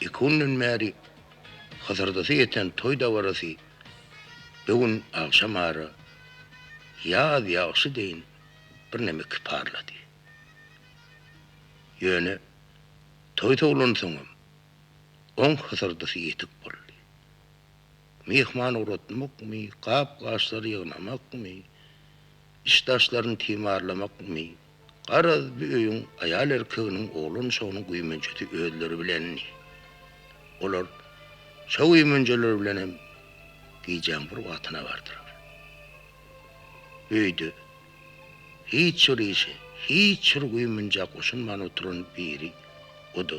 Iki günden bäri hyzyrdysy ýeten toý dabarasy bu gün agşam ara ýaz ýagşy deýin birneme kiparlady. Ýöne toý sowlansoňam, oň hyzyrdysy ýetik boldy. Myhman ugratmakmy, gap-gaçlary ýygnamakmy, iş-daşlaryny timarlamakmy, Garaz, bu öýüň aýal-erkeginiň, oglan-uşagynyň güýmenjesi özleri bilendi. Olar şo güýmenjeleri bilen hem gijäň bir wagtyna bardylar. Öýde hiç bir işe, hiç bir güýmenjä goşulman oturan biri, o-da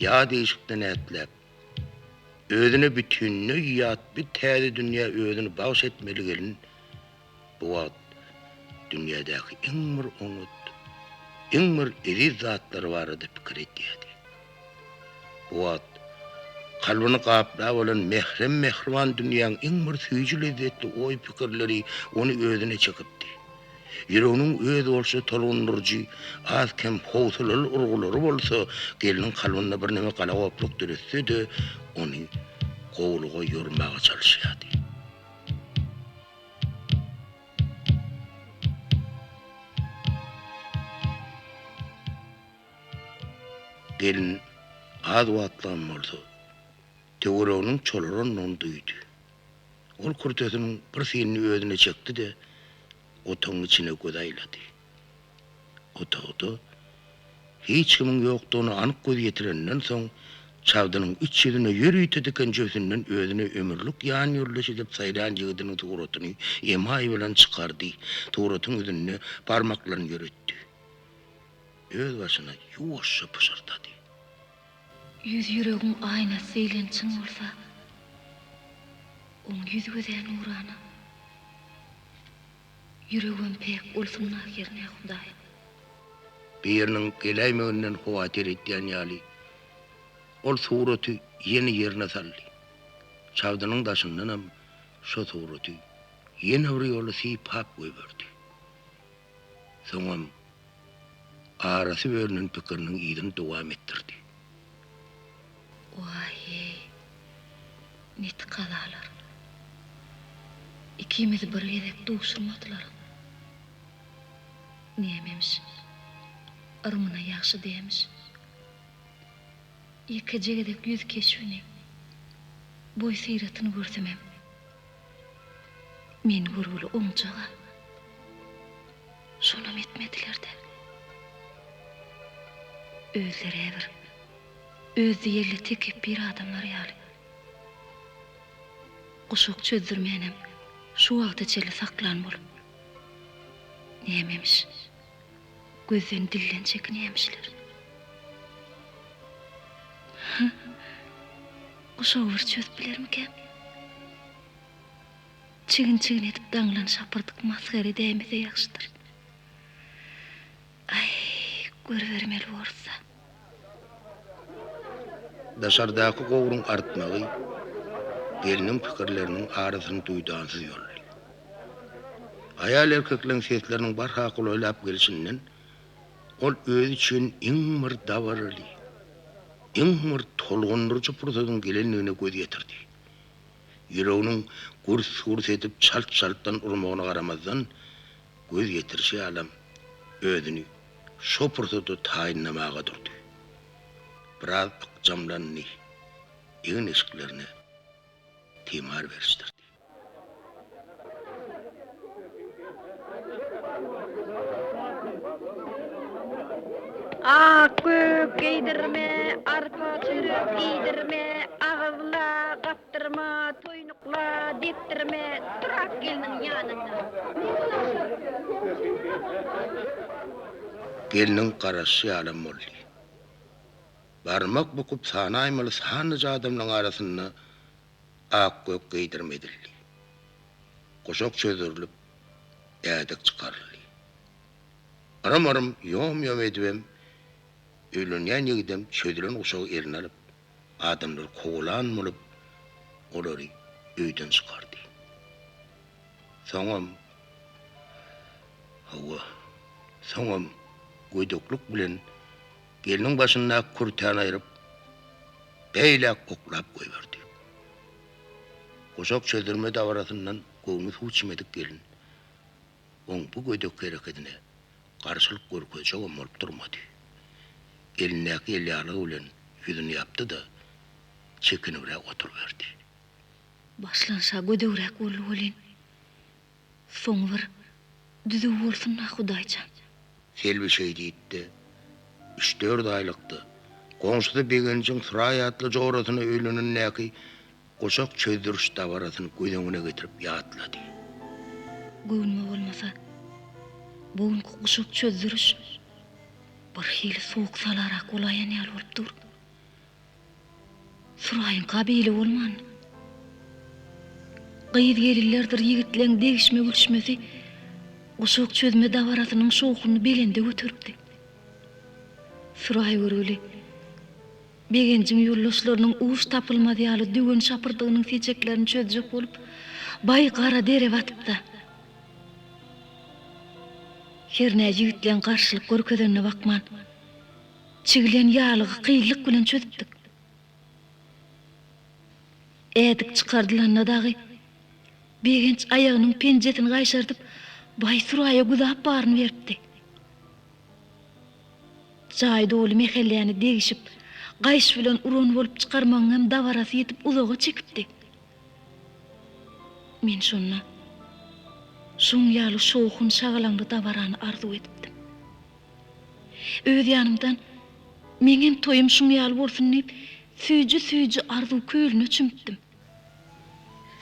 ýat işikden ätläp, özüne bütinleý ýat bu täze dünýä özüni bagş etmeli gelin bu wagt dünýädäki iň bir oňat, iň bir eziz zatlary barada pikir edýärdi. Bu wagt kalbyny gaplap alan mährem-mähriban dünýäň iň bir süýji-lezzetli oý-pikirleri ony özüne çekipdi. Ýüreginiň özboluşly tolgundyryjy, az-kem howsalaly urgulary bolsa gelniň kalbynda birneme galagoplyk döretse-de, ony gowulyga ýormaga çalyşýardy. Gelin az wagtlygam bolsa, töwereginiň çolarandygyny duýdy. Ol kürtesiniň bir synyny özüne çekdi-de, otagyň içine göz aýlady. Otagda hiç kimiň ýokdugyna anyk göz ýetireninden soň, çagdynyň iç ýüzüne ýörite diken jübüsinden özüne ömürlik ýanýoldaş edip saýlan ýigidiniň suratyny emaý bilen çykardy, suratyň ýüzünde barmaklaryny ýöretdi. Özbaşyna ýuwaşja pyşyrdady. Ýüz ýüregiň aýnasy diýlen çyn bolsa, oň ýüz gözä nurana. Ýüregem päk bolsun ahyryn-ä Hudaýym. Biriniň geläýmeginden howatyr edýän ýaly, ol suraty ýene ýerine saldy. Çagdynyň daşyndanam şo suraty ýene bir ýola sypap goýberdi. Soňam arasy bölünen pikiriniň yzyny dowam etdirdi. Waý-eý, neti kalalar. Ikimizi bir gezek duşurmadylar. Nämemiş, yrmyna ýagşy dämiş. Ýekeje gezek ýüz keşbini, boý-syratyny görsemem, Men görgüli oňjaga. Şonam etmediler-de. Özleri-ä bir özdiýelli tekepbir adamlar ýaly. Guşak çözdürmänem şu wagta çenli saklan bolup. Nämemiş, Gözden dilden çekinýämişler. Hä? Guşagy bir çözüp bilermikäm? Çigin-çigin edip daňlan şapyrdyk masgara dämese ýagşydyr. Aý, görübermeli borsa. Daşardaky gowruň artmagy gelniň pikirleriniň arasyny duýdansyz ýoldy. Aýal-erkekleň sesleriniň barha golaýlap gelşinden ol özi üçin iň bir dabaraly, iň bir tolgundyryjy pursadyň gelendigine göz ýetirdi. Ýüreginiň gürs-gürs edip çalt-çaltdan urmagyna garamazdan, Göz ýetirişi ýalam, özüni şo pursada taýynlamaga durdy. Biraz ykjamlandy, egin-eşiklerine timar berişdirdi. Ak gök geýdirme, arpa-çörek iýdirme, agyzla gap Depdirme, toýnukla, depdirme, Durak gelniň ýanynda. Gelniň garaşy ýalam boldy. Barmak bukup sanaýmaly sanlyja adamlaryň arasynda ak-gök geýdirme edildi. Guşak çözürilip, ädik çykaryldy. Yrym-yrym, ýom-ýom edibem, öýlenýän ýigidem çözülen guşagy eline alyp, adamlar kowalan bolup, olary öýden çykardy. Soňam, hawa, soňam gödeklik bilen gelniň başyndaky kürtäni aýryp, beýläk oklap goýberdi. Guşak çözdirme dabarasyndan göwni suw çimedik gelin oň bu gödek hereketine garşylyk görkezjegem bolup durmady. Elindäki elýaglygy bilen ýüzüni ýapdy-da, çekinibräk oturyberdi. Başlanyş-a gödegräk boldy welin, soňy bir düzüw bolsun-da, Hudaýjan! Selbi şeý diýip-de, üç-dört aýlykdy. Goňşusy Begenjiň Suraý atly jorasyna öýlenendäki guşak çözdüriş dabarasyny göz öňüne getirip ýatlady. Göwnüme bolmasa, bu günki guşak çözdüriş birhili sowuk salarak bolaýan ýaly bolup dur. Suraýyň kabili bolman, gyz-gelinlerdir ýigitleň degişme-gülüşmesi guşak çözme dabarasynyň şowhunyny belende göteripdi. Suraý görgüli Begenjiň ýoldaşlarynyň uç tapylmaz ýaly döwen şapyrdygynyň seçeklerini çözjek bolup, baý gara dere batypdy. Hernä ýigitleň garşylyk görkezenine bakman. Çigilen ýaglygy kynlyk bilen çözüpdik. Ädik çykardylanda dagy, Begenç aýagynyň penjesini gaýşardyp, baý Suraýa güzap baryny beripdi. Jaý doly mähelläni degişip, gaýyş bilen uran bolup çykarmagyň hem dabarasy ýetip uzaga çekipdi. Men şonda şoň ýaly şowhun-şagalaňly dabarany arzuw edipdim. Öz ýanymdan, Meňem toýum şuň ýaly bolsun diýip, süýji-süýji arzuw kölüne çümüpdim.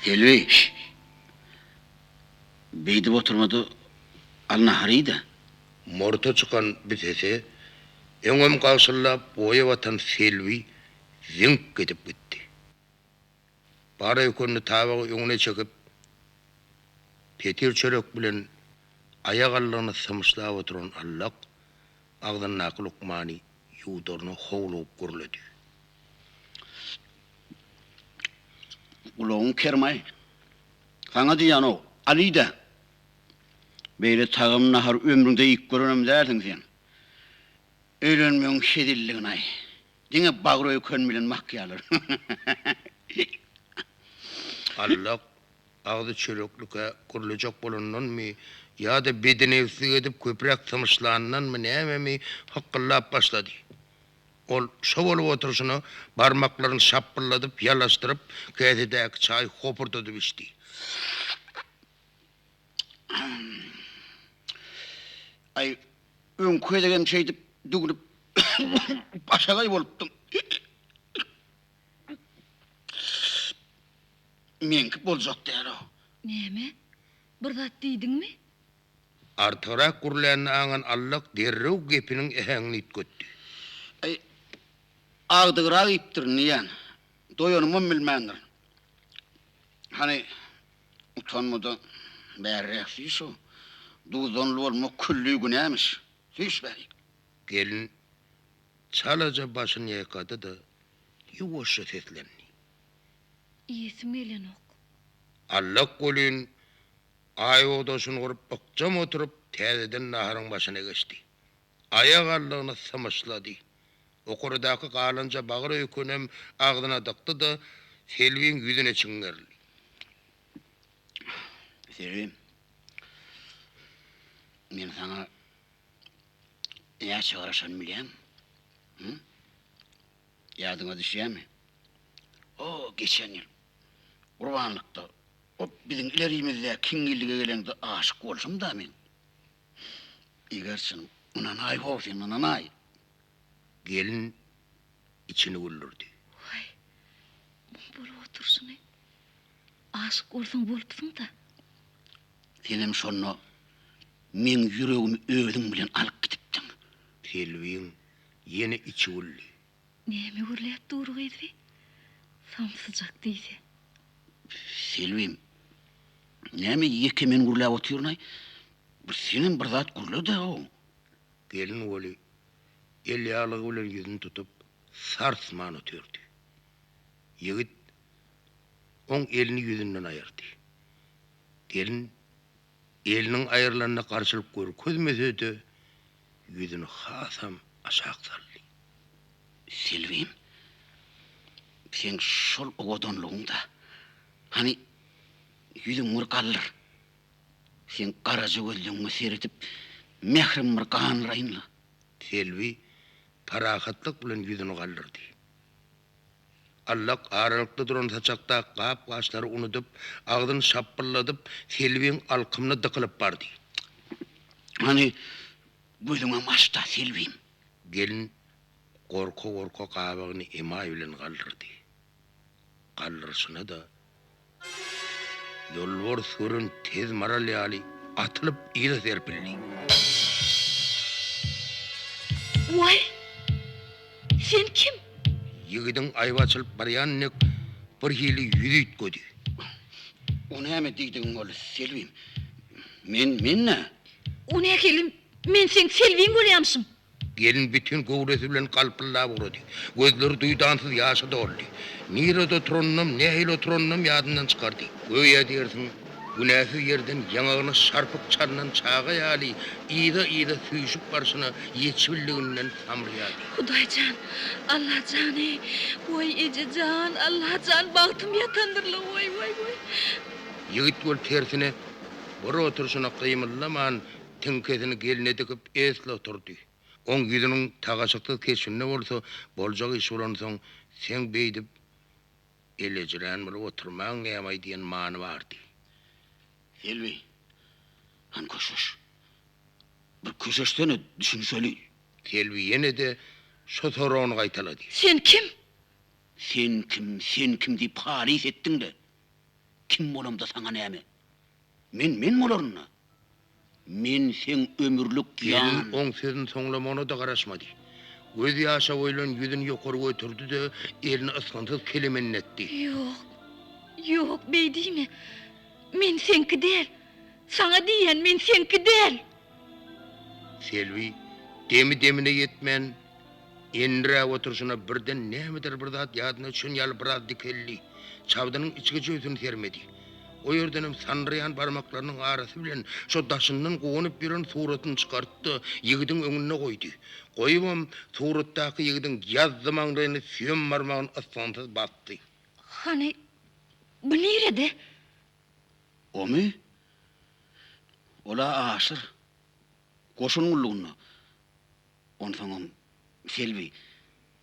Selbi, Beýdip oturma-da, al nahar iý-de! Murta çykan bir sese öňem gagşyldap boýa batan Selbi ziňk edip gitdi. Bar öýkenini tabagy öňüne çekip, petir çörek bilen aýagallygyny symyşlap oturan Allak agzyndaky lukmany ýuwdaryna howlugyp gürledi. Gulagyň kermaý. Saňa diýýänok, Alyda! Beýle tagam nahary ömrüňde iýip görenem dälsiň sen. Öýlenmegiň hezilliginaý. Diňe bagry öýken bilen makýarlar. Allak, agzy çöreklikä gurlajak bolandanmy ýa-da bedenewslik edip köpräk tymyşlandanmy nämemi hykgyllap başlady. Ol şo bolup oturyşyna barmaklaryny şapbyldadyp, ýalaşdyryp, käsedäki çaýy hopurdadyp içdi. Aý, öňki gezegem şeýdip düwlüp başagaý bolupdyň. Meňki boljak däl-ow. Näme? Bir zat diýdiňmi? Artygrak gürlänini aňan Allak derrew gepiniň äheňini üýtgetdi. Aý, agdygrak iýipdirin diýýän. Doýanymam bilmändirin. Hany, Utanmada bärräk süýş şu. Duzdanly bolmak külli günämiş. Süýş bärik. Gelin çalaja başyny ýaýkady-da, ýuwaşja seslendi. Iýesim gelenok. Allak welin, aýogdaşyny gurup ykjam oturyp, täzeden naharyň başyna geçdi. Aýak allygyny symyşlady. Okurydaky galanja bagyr öýkenem agzyna dykdy-da, Selbiň ýüzüne çiňerildi. Selbi, men saňa näçe garaşan bilýäň? Hü? Ýadyňa düşýärmi? O, geçen ýyl, gurbanlykda, o biziň ilerimizde kiňňillige gelende aşyk bolşum-da men. Eger çyn, ynanaý ho, sen ynanaý. Gelin içini güldürdi. Waý, muň bolup oturyşyny. Aşyk bolsaň bolupsyň-da. Senem şonda meň ýüregimi özüň bilen alyp gidipdiň. Selbiň ýene içi güldi. Näme gürläp dur gyzy? Samsyjak diýse. Selbem, näme ýeke men gürläp otyryn-aý? Bir senem bir zat gürle-de-ow! Gelin Weli elýaglygy bilen ýüzüni tutup, sarsman otyrdy. Ýigit oň elini ýüzünden aýyrdy. Gelin Eliniň aýrylanyna garşylyk görkezmese-de, ýüzüni hasam aşak saldy. Selbem, seň şol owadanlygyň-da, hany, ýüzüň bir galdyr. Seň garaja gözleňňe seredip, mährim bir ganraýyn-la. Selbi parahatlyk bilen ýüzüni galdyrdy. Allak aralykda duran saçakdaky gap-gaçlary unudyp, agzyny şapbyldadyp, Selbiň alkymyna dykylyp bardy. Hany, gözüňem aç-da, Selbim! Gelin gorka-gorka gabagyny emaý bilen galdyrdy. Galdyryşyna-da Ýolbars gürrüň tez maral ýaly atylyp yza serpildi. Waý! Sen kim? Ýigidiň aýby açylyp barýan dek birhili ýüz üýtgedi. O näme diýdigiň ol, Selbim? Men, men-ä? O nähili, men seň Selbiň bolýamyşym? Gelin bütin göwresi bilen galpyldap ugrady. Gözleri duýdansyz ýaşa doldy. Nirede oturanynam, nähili oturanynam ýadyndan çykardy. Göýä diýersiň, günäsiz ýerden ýaňagyna şarpyk çalnan çaga ýaly yza-yza süýşüp barşyna ýeçbildiginden samrýardy. Hudaý jan! Alla jan-eý! Waý, eje jan! Alla jan, bagtym ýatandyr-la! Waý, waý, waý! Ýigit bolup tersine bir oturşyna gymyldaman, Tiňkesini gelne dikip, esli oturdy. Oň ýüzüniň tagaşyksyz keşbinde bolsa, boljak iş bolansoň, seň beýdip elejirän bolup oturmaň näme-aý diýen many bardy. Selbi, hany köşeş. Bir köşeşsene, düşünişeliň. Selbi ýene-de şo soragyny gaýtalady. Sen kim? Sen kim, sen kim diýip halys etdiň-le. Kim bolamda saňa näme? Men men bolaryn-da. Men seň ömürlik ýan. Gelin oň sözüni soňlamagyna-da garaşmady. Göz ýaşa boýlan ýüzüni ýokary göterdi-de, elini ysgynsyz kelemenletdi. Ýok. Ýok, beýdiýme. Men seňki däl. Saňa diýýän, men seňki däl. Selbi demi-demine ýetmän, endiräk oturyşyna birden nämedir bir zat ýadyna düşen ýaly biraz dikeldi. Çabdynyň içgi jübüsini sermedi. O ýerdenem sandyraýan barmaklarynyň arasy bilen şo daşyndan guwanyp ýören suratyny çykartdy-da, ýigidiň öňünde goýdy. Goýubam, suratdaky ýigidiň ýazzy maňlaýyny süýem barmagyn ysgynsyz basdy. Hany, bu nirede? Omy? Ol-a aşyr. Goşun gullugynda. Onsoňam, Selbi,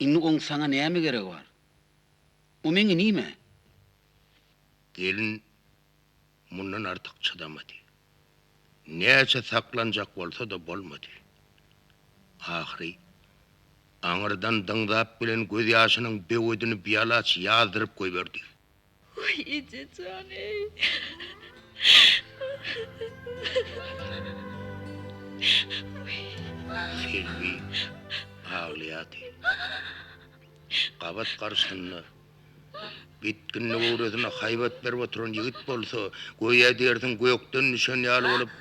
indi oň saňa näme geregi bar? O meň inim-ä. Gelin mundan artyk çydamady. Näçe saklanjak bolsa-da bolmady. Ahyry, aňyrdan dyňzap gelen gözýaşynyň böwedini bialaç ýazdyryp goýberdi. Waý ejejan eý. Selbi aglaýardy. Gabat garşysynda gitginli owradyna haýbat berip oturan ýigit bolsa, göýä diýersiň gökden düşen ýaly bolup,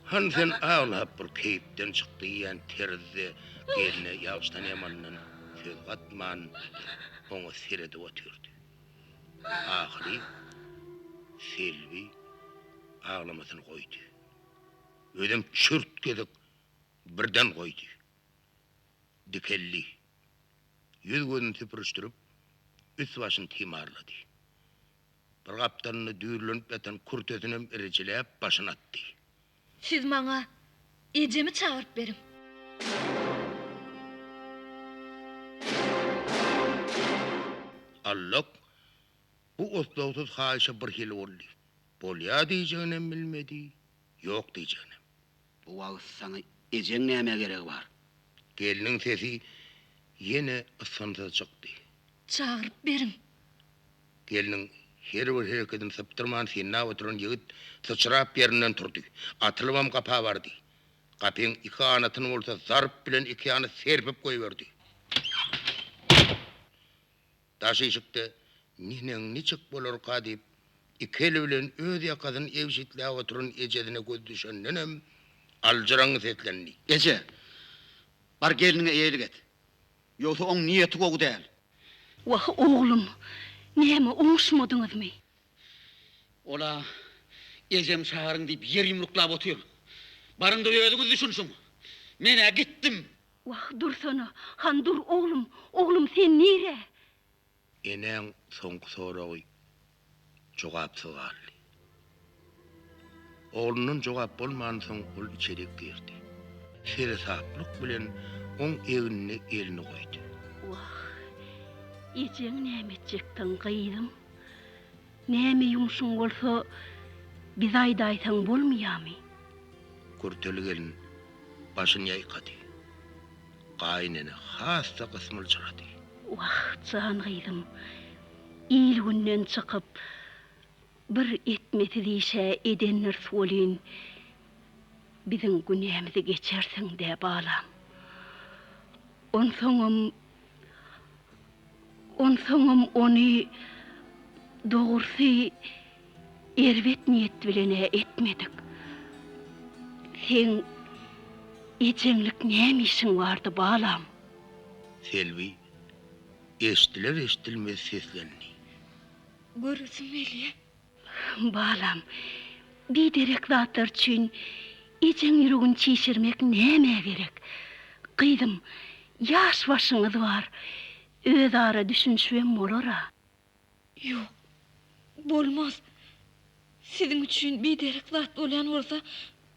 Han sen aglap bir keýpden çyk diýýän terzde gelne ýagşydan-ýamandan söz gatman, oňa seredip otyrdy. Ahyry Selbi aglamasyny goýdy. Özem çürt gezek birden goýdy. Dikeldi. Ýüz-gözüni süpürişdirip, üst-başyny timarlady. Bir gapdalynda düýrlenip ýatan kürtesinem irijiläp, başyny atdy. Siz maňa ejemi çagyryp beriň. Allak bu oslagsyz haýyşa birhili boldy. Bolýa diýjeginem bilmedi, ýok diýjeginem. Bu wagt saňa ejeň nämä geregi bar? Gelniň sesi ýene ysgynsyz çykdy. Çagyryp beriň. Gelniň her bir hereketini sypdyrman synlap oturan ýigit syçrap ýerinden turdy. Atylybam gapa bardy. Gapyň iki ganatyny bolsa zarp bilen iki ýana serpip goýberdi. Daş işikde Mihneň niçik bolarka diýip, iki eli bilen öz ýakasyny egşitläp oturan ejesine gözi düşendenem aljyraňňy seslendi. Eje! Bar gelniňe eýelik et. Ýogsa oň niýeti gowy däl. Wah, oglum, näme, oňuşmadyňyzmy? Ol-a ejem çagyryň diýip ýer ýumruklap otyr. Baryňda özüňiz düşünşiň. Men-ä gitdim. Wah, dursana, han dur, oglum, oglum, sen nirä? Enäň soňky soragy jogapsyz galdy. Oglundan jogap bolmansoň ol içerik girdi. Seresaplyk bilen oň egnine elini goýdy. Wah, ejeň näme etjekdiň, gyzym? Näme ýumşuň bolsa, bize aýdaýsaň bolmaýamy? Kürteli gelin başyny ýaýkady. Gaýynene has-da gysmyljyrady. Wah, jan gyzym, il-günden çykyp, bir etmesiz işe edendiris welin, biziň günämizi geçersiň-dä, balam. Onsoňam, Onsoňam ony, dogrusy, erbet niýet bilen-ä etmedik. Seň ejeňlik näme işiň bardy, balam? Selbi eşdiler-eşdilmez seslendi. Göresim gelýär. Balam, biderek zatlar üçin ejeň ýüregini çişirmek nämä gerek? Gyzym, ýaş başyňyz bar, özara düşünişibem bolar-a. Ýok, bolmaz. Siziň üçin biderek zat bolýan bolsa,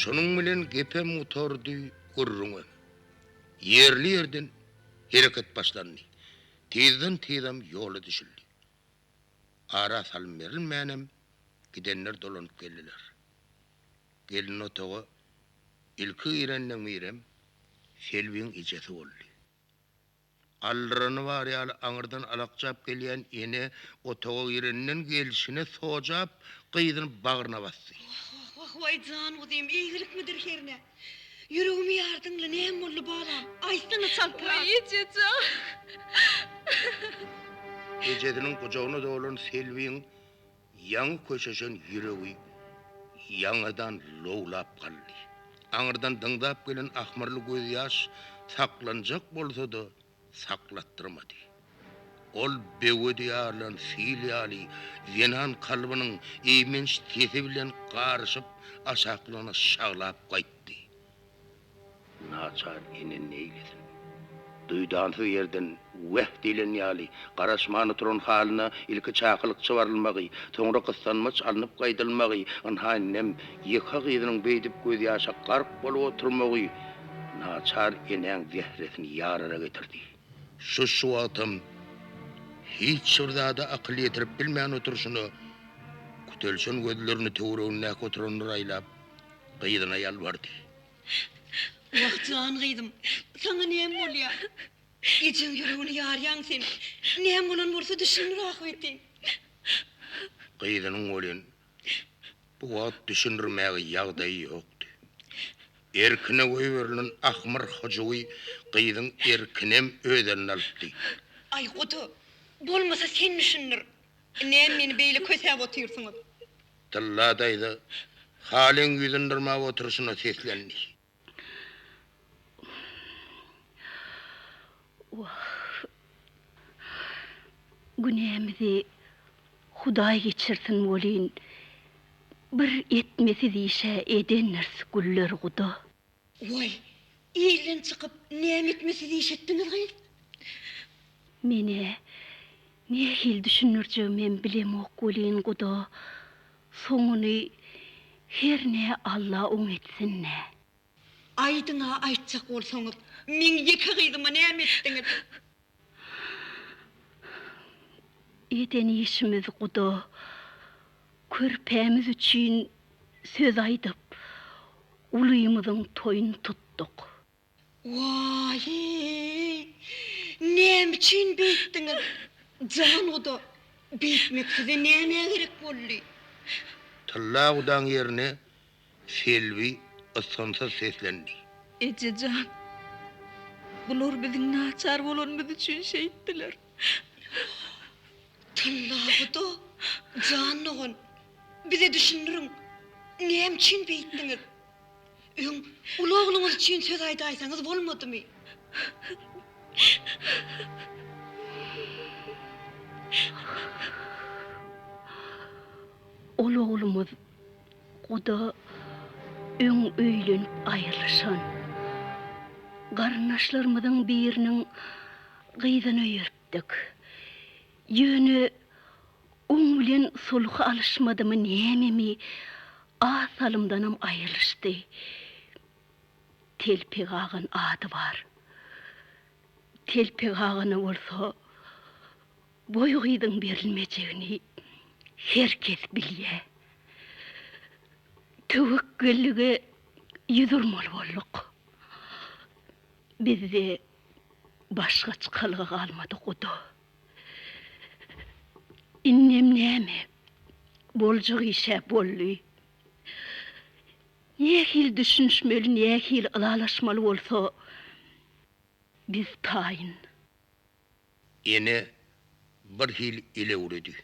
Şonuň bilen gepem gutardy, gürrüňem. Ýerli-ýerden hereket başlandy. Tizden-tizem ýola düşüldi. Ara salym berilmänem gidenler dolanyp geldiler. Gelin otaga ilki girenler Mirem, Selbiň ejesi boldy. Aldyrany bar ýaly aňyrdan alakjap gelýän ene otaga girenden gelşine sojap, gyzyny bagryna basdy. Wah, wah, wah, waý jan uzym, eýgilikmidir hernä? Ýüregimi ýardyň-la, näme boldy balam? Aýtsana çaltrak! Waý eje jan! Ejesiniň gujagyna dolan Selbiň Ýaňy köşeşen ýüregi ýaňadan lowlap galdy. Aňyrdan dyňzap gelen ahmyrly gözýaş saklanjak bolsa-da, saklatdyrmady. Ol böwedi ýarylan sil ýaly zenan kalbynyň eýmenç sesi bilen garyşyp aşaklygyna şaglap gaýtdy. Naçar ene neýlesin? Duýdansyz ýerden Weh! diýlen ýaly, garaşman oturan halyna ilki çakylyk çybarylmagy, soňra gyssanmaç alnyp gaýdylmagy, ynha indem ýeke gyzynyň beýdip gözýaşa gark bolup oturmagy naçar enäň zähresini ýarara getirdi. Şu-şu wagtam hiç bir zada akyl ýetirip bilmän oturyşyna, kütelşen gözlerini töweregindäki oturanlara aýlap, gyzyna ýalbardy. Wah, jan gyzym, saňa näme bolýar? Ejeň ýüregini ýarýaň sen. Näme bolan bolsa düşündir ahbetin. Gyzynyň welin bu wagt düşündirmäge ýagdaýy ýokdy. Erkine goýberilen ahmyr hyjuwy gyzyň erkinem öz eline alypdy. Aý, gudy, bolmasa sen düşündir. Näme meni beýle kösäp otyrsyňyz? Tylla daýza Halyň ýüzüni dyrmap oturyşyna seslendi. Wah. Günämizi Hudaý geçirsin welin, bir etmesiz işe edendiris Güllerguda. Woý, ilden çykyp näme etme siz iş etdiňiz gyz? Men-ä nähili düşündirjegimem bilemok welin guda, soňuny hernä Alla oň etsin-dä. Aýdyň-a aýtjak bolsaňyz, meň ýeke gyzyma näme etdiňiz? Eden işimiz guda, körpämiz üçin söz aýdyp, ulymyzyň toýuny tutduk. Waýy, näme üçin beýtdiňiz, janguda, beýtmek size nämä gerek boldy? Tylla gudaň ýerine Selbi ysgynsyz seslendi. Eje jan, bular biziň naçar bolanymyz üçin şeýtdiler. Tyllaguda jan dogan, bize düşündiriň, näme üçin beýtdiňiz? Öň uly ogluňyz üçin söz aýdaýsaňyz bolmadymy? Uly oglumyz Guda öň öýlenip aýrylyşan garyndaşlarymyzyň biriniň gyzyny öýertdik. Ýöne oň bilen sulhy alyşmadymy nämemi az salymdanam aýrylyşdy. Telpek agan ady bar. Telpek agany bolsa Boý gyzyň berilmejegini her kes bilýär. Töwekgellige ýüz urmaly bolduk. Bizde başga çykalga galmady guda. Indem näme, boljak iş-ä boldy. Nähili düşünişmeli, nähili ylalaşmaly bolsa, biz taýyn. Ene bir hili elewredi.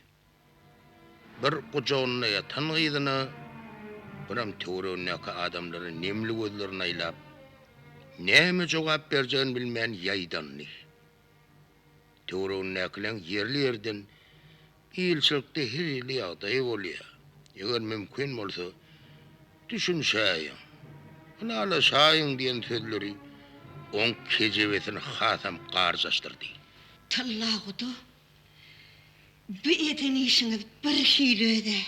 Bir gujagynda ýatan gyzyna, biram töweregindäki adamlara nemli gözlerini aýlap, näme jogap berjegini bilmän ýaýdandy. Töweregindäkileň ýerli-ýerden Ilçilikde her hili ýagdaý bolýar. Eger mümkin bolsa, düşünişäýiň, ylalaşaýyň diýen sözleri oň kejebesini hasam garjaşdyrdy. Tyllaguda, bu eden işiňiz birhili öz-ä.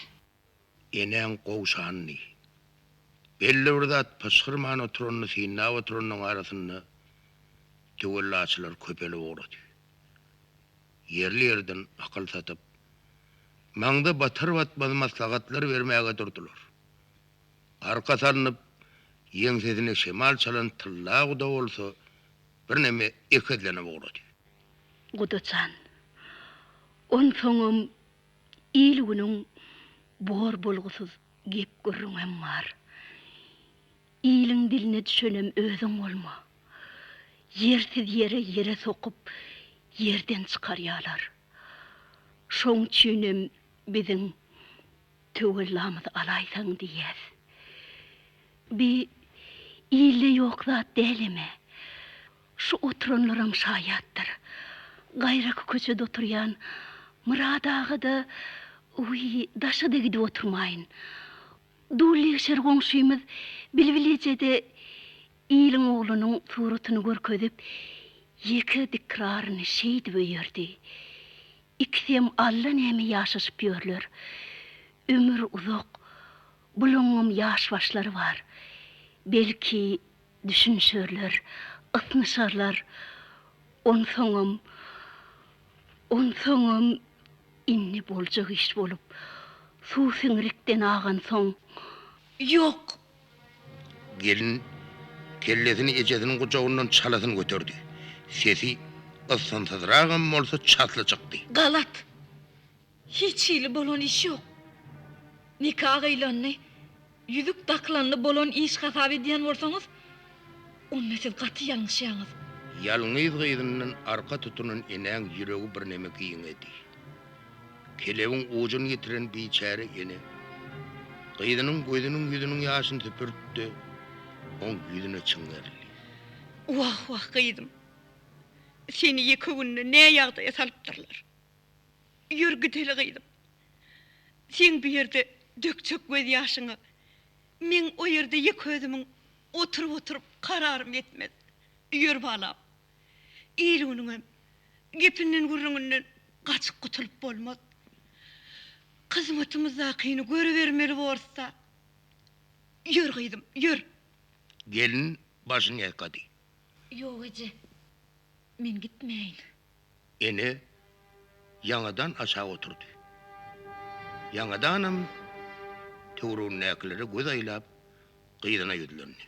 Enäň gowşanyny, belli bir zat pyşgyrman oturanyny synlap oturanynyň arasynda töwellaçylar köpelip ugrady. Ýerli-ýerden akyl satyp, maňza batar-batmaz maslahatlar bermäge durdular. Arka salnyp, ýeňsesine şemal çalan tylla guda bolsa birneme ekezlenip ugrady. Guda jan, onsoňam Il-günüň bor bolgusyz gep-gürrüňem bar. Iliň diline düşenem özüň bolma. Ýersiz ýere ýere sokup, ýerden çykarýalar. Şoň üçinem biziň töwellamyzy alaýsaň diýýäs. Bi ilde ýok zat dälem-ä. Şu oturanlaram şaýatdyr. Gaýraky köçede oturýan Myrat aga-da öý daşa-da gidip oturmaýyn. Dullyegşer goňşymyz Bilbil eje-de iliň oglunyň suratyny görkezip, ýeke dikraryny şeýdip öýerdi. Ikisem allanäme ýaşaşyp ýörler. Ömür uzak, bulaňňam ýaş başlary bar. Belki, Düşünişerler, ysnyşarlar, onsoňam, onsoňam indi boljak iş bolup, suw siňrikden agansoň, ýok! Gelin kellesini ejesiniň gujagyndan çalasyn göterdi. Sesi ysgynsyzragam bolsa çasly çykdy. Galat! Hiç hili bolan iş ýok. Nika gyýlanny, ýüzük dakylanny bolan iş hasap edýän bolsaňyz, onda siz gaty ýalňyşýaňyz. Ýalňyz gyzyndan arka tutunan enäň ýüregi birneme giňedi. Kelebiň ujuny ýitiren biçäre ene, gyzynyň gözüniň-ýüzüniň ýaşyny süpürtdi, oň ýüzüne çiňerildi. Wah-wah gyzym! Seni ýeke günde nä ýagdaýa salypdyrlar? Ýör gideli gyzym. Seň bu ýerde dökjek gözýaşyňa meň o ýerde ýeke özümiň oturyp-oturyp kararym ýetmez. Ýör balam. Eýlügüniňem gepinden-gürrüňinden gaçyp gutulyp bolmaz. Hyzmatymyzdakyny görübermeli borus-da. Ýör gyzym, ýör. Gelin başyny ýaýkady. Ýok eje. Men gitmäýin. Ene ýaňadan aşak oturdy. Ýaňadanam töweregindäkilere göz aýlap, gyzyna ýüzlendi.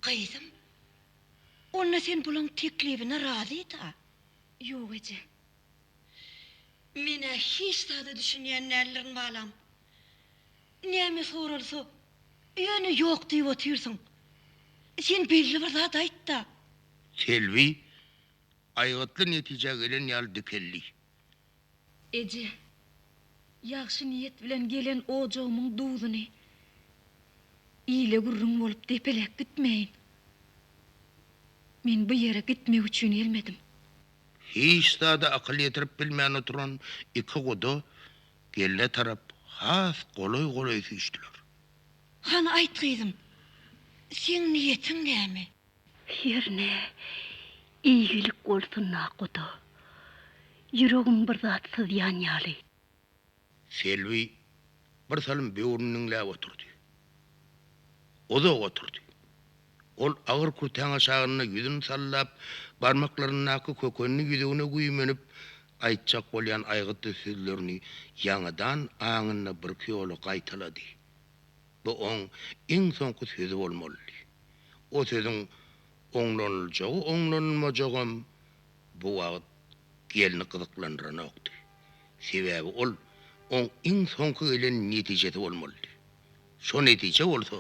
Gyzym, onda sen bulaň teklibine razy-da? Ýok, eje. Men-ä hiç zada düşünýän däldirin, balam. Näme soralsa, ýöne ýok diýip otyrsyň. Sen belli bir zat aýt-da! Selbi aýgytly netijä gelen ýaly dikeldi. Eje, ýagşy niýet bilen gelen ojagymyň duzuny ile gürrüň bolup depeläp gitmäýin. Men bu ýere gitmek üçin gelmedim. Hiç zada akyl ýetirip bilmän oturan iki guda gelne tarap has golaý-golaý süýşdüler. Hany aýt gyzym, seň niýetiň näme? Hernä, eýgilik bolsun-a, guda. Ýüregim bir zat syzýan ýaly. Selbi birsalym böwrüni diňläp oturdy. Uzak oturdy. Ol agyr kürtäň aşagynda ýüzüni sallap, barmaklaryndaky kökenli ýüzügine güýmenip, aýtjak bolýan aýgytly sözlerini ýaňadan aňynda birki ýola gaýtalady. Bu oň iň soňky sözi bolmalydy. O sözüň oňlanyljagy-oňlanylmajagam bu wagt gelni gyzyklandyranokdy. Sebäbi ol oň iň soňky gelen netijesi bolmalydy. Şo netije bolsa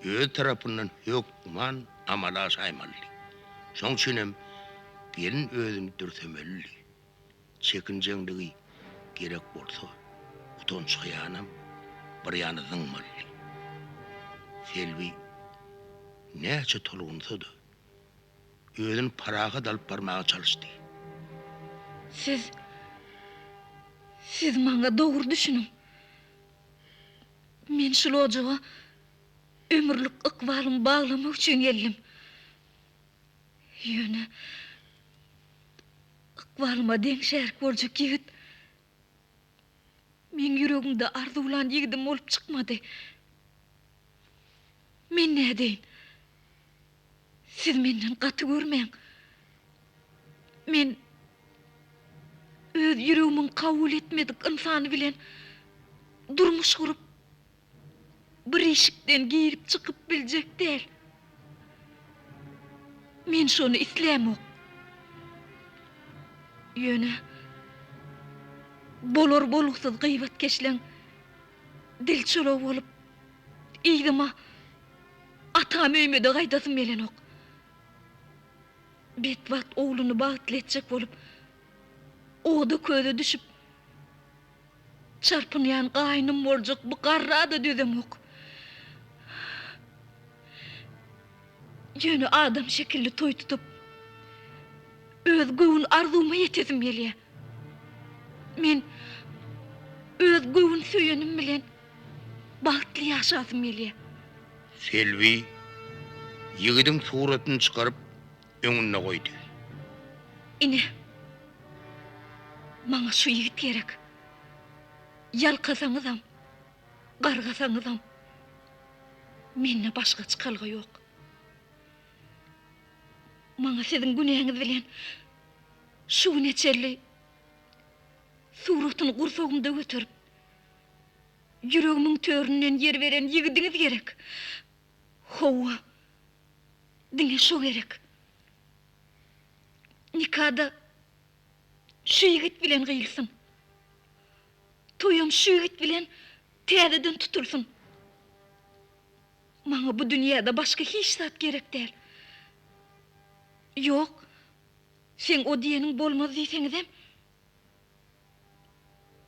öz tarapyndan hökman amala aşaýmalydy. Şoň üçinem gelin özüni dürsemelidi. Çekinjeňligi, gerek bolsa, utanç-hyýanam bir ýana zyňmalydy. Selbi näçe tolgunsa-da, özüni parahat alyp barmaga çalyşdy. Siz, siz maňa dogry düşüniň. Men şul ojaga ömürlik ykbalymy baglamak üçin geldim. Ýöne. Ykbalyma deň şärik boljak ýigit meň ýüregimde arzuwlan ýigidim bolup çykmady. Men nädeýin? Siz menden gaty görmäň. Men öz ýüregimiň kabul etmedik ynsany bilen durmuş gurup, bir işikden girip-çykyp biljek däl. Men şony islämok. Ýöne bolar-bolgusyz gyýbatkeşleň dil çology bolup, yzyma, atam öýüme-de gaýdasym gelenok. Betbagt ogluny bagtly etjek bolup, oda-köze düşüp, Çarpynýan gaýnym boljak bu garra-da dözemok. Ýöne adam şekilli toý tutup, öz göwün arzuwyma ýetesim gelýär. Men öz göwün söýenim bilen bagtly ýaşasym gelýär. Selbi, ýigidiň suratyny çykaryp, öňünde goýdy. Ine, maňa şu ýigit gerek. Ýalkasaňyzam, gargasaňyzam, mende başga çykalga ýok. Maňa siziň günäňiz bilen şu güne çenli suratyny gursagymda göterip, ýüregimiň töründen ýer beren ýigidiňiz gerek. Hawa, diňe şo gerek. Nikada şu ýigit bilen gyýylsyn. Toýam şu ýigit bilen täzeden tutulsyn. Maňa bu dünýäde başga hiç zat gerek däl. Ýok, seň o diýeniň bolmaz diýseňizem,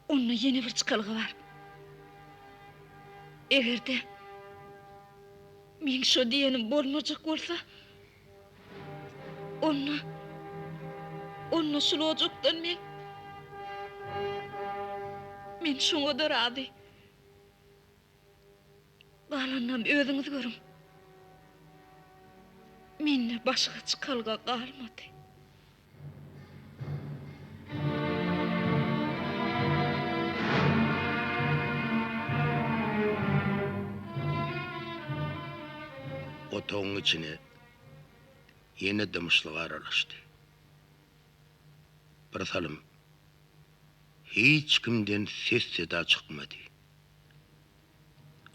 Onda ýene bir çykalga bar. Eger-de meň şo diýenim bolmajak bolsa, onda, onda şul ojakdan men, men şoňa-da razy. Galanynam özüňiz görüň. Mende başga çykalga galmady. Otagyň içine ýene dymyşlyk aralaşdy. Birsalym hiç kimden ses-seda çykmady.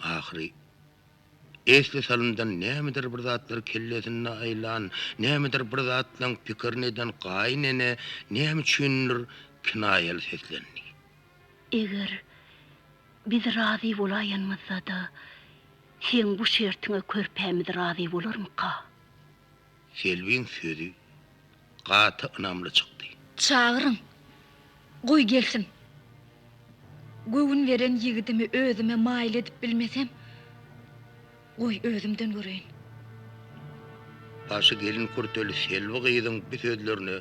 Ahyry esli salymdan nämedir bir zatlar kellesinde aýlan, nämedir bir zatlaň pikirini eden gaýyn ene näme üçindir kinaýaly seslendi. Eger biz razy bolaýanymyzda-da, seň bu şertiňe körpämiz razy bolarmyka? Selbiň sözi gaty ynamly çykdy. Çagyryň. Goý gelsin. Göwün beren ýigidimi özüme maýyl edip bilmesem, goý özümden göreýin. Başy gelin kürteli Selbi gyzyň bu sözlerine.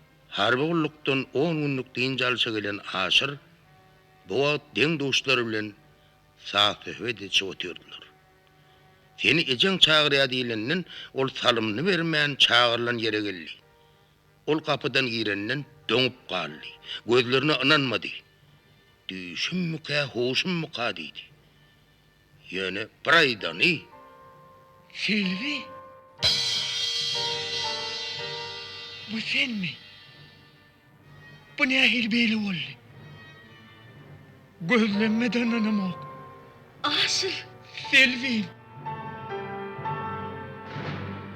Harby gullukdan on günlük dynç alşa gelen Aşyr bu wagt deň-duşlary bilen saz-söhbet edişip otyrdylar. Seni ejeň çagyrýar diýlenden, ol salymyny bermän çagyrylan ýere geldi. Ol gapydan girenden doňup galdy. Gözlerine ynanmady. Düýşümmükä, huşummyka diýdi. Ýöne bir aýdany, Sylwi! Bu senmi? Bu nähili beýle boldy? Gözlerime dananamok. Aşyr! Sylwim!